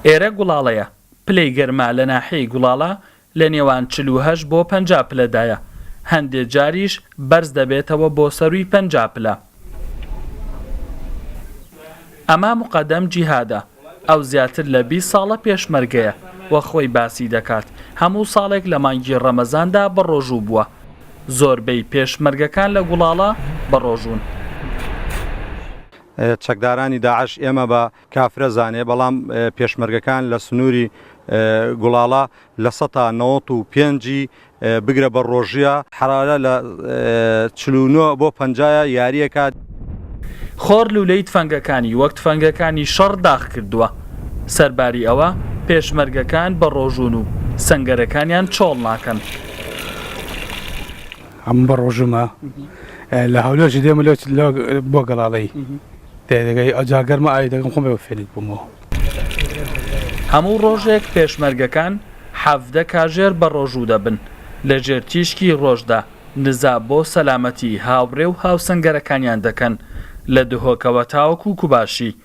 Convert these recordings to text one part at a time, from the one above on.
ئێرە گوڵاڵەیە، پلەی گەرما لە ناحیەی گوڵاڵە لە نێوان چل و هەشت بۆ پەنجا پلەدایە، هەندێ جاریش بەرز دەبێتەوە بۆ سەرووی پەنجا پلە. ئەمە موقەدەم جیهادە، ئەو زیاتر لە بیست ساڵە پێشمەرگەیە و خۆی باسی دەکات، هەموو ساڵێک لە مانگی ڕەمەزاندا بەڕۆژوو بووە. زۆربەی پێشمەرگەکان لە گوڵاڵە بەڕۆژوون. چەکدارانی داعش ئێمە بە کافرە زانێ بەڵام پێشمەرگەکان لە سنووری گوڵاڵە لە سەتا نەوەت و پێنجی بگرە بە ڕۆژیە حەرارە لە چل و نۆ بۆ پەنجایە یاریەکە. خۆر لوولەی تفەنگەکانی وەک تفەنگەکانی شەڕ داخ کردووە، سەرباری ئەوە پێشمەرگەکان بەڕۆژوون و سەنگەرەکانیان چۆڵ ناکەن. ئەم بە ڕۆژمە لە هەولێرش دێمە لێ بۆ گەڵاڵەی دەگەی ئەجا گەرمە ئای دەگەم خۆم بە فێنک بوومەوە هەموو ڕۆژێک پێشمەرگەکان حەڤدە کاژێر بە ڕۆژوو دەبن لەژێر تیشکی ڕۆژدا نزا بۆ سەلامەتی هاوڕێ و هاوسەنگەرەکانیان دەکەن لە دهۆکەوە تاوەکو کوباشی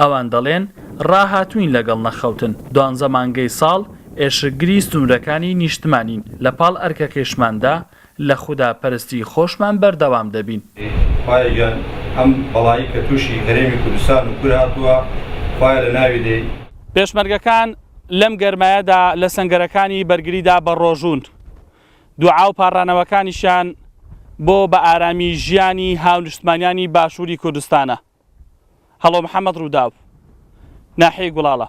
ئەوان دەڵێن ڕاهاتووین لەگەڵ نەخەوتن، دوانزە مانگەی ساڵ ئێشکگری سنوورەکانی نیشتمانین، لە پاڵ ئەرکەکەیشماندا لە خودا پەرستی خۆشمان بەردەوام دەبین. خوایە گیان ئەم بەڵایی کە تووشی هەرێمی کوردستان و کور هاتووە خوایە لە ناوی دەی. پێشمەرگەکان لەم گەرمایەدا لە سەنگەرەکانی بەرگریدا بە ڕۆژوون، دوعا و پاڕانەوەکانیشیان بۆ بە ئارامی ژیانی هاونشتمانیانی باشووری کوردستانە. هەڵۆ محەمەد رووداو. ناحیەی گوڵاڵە.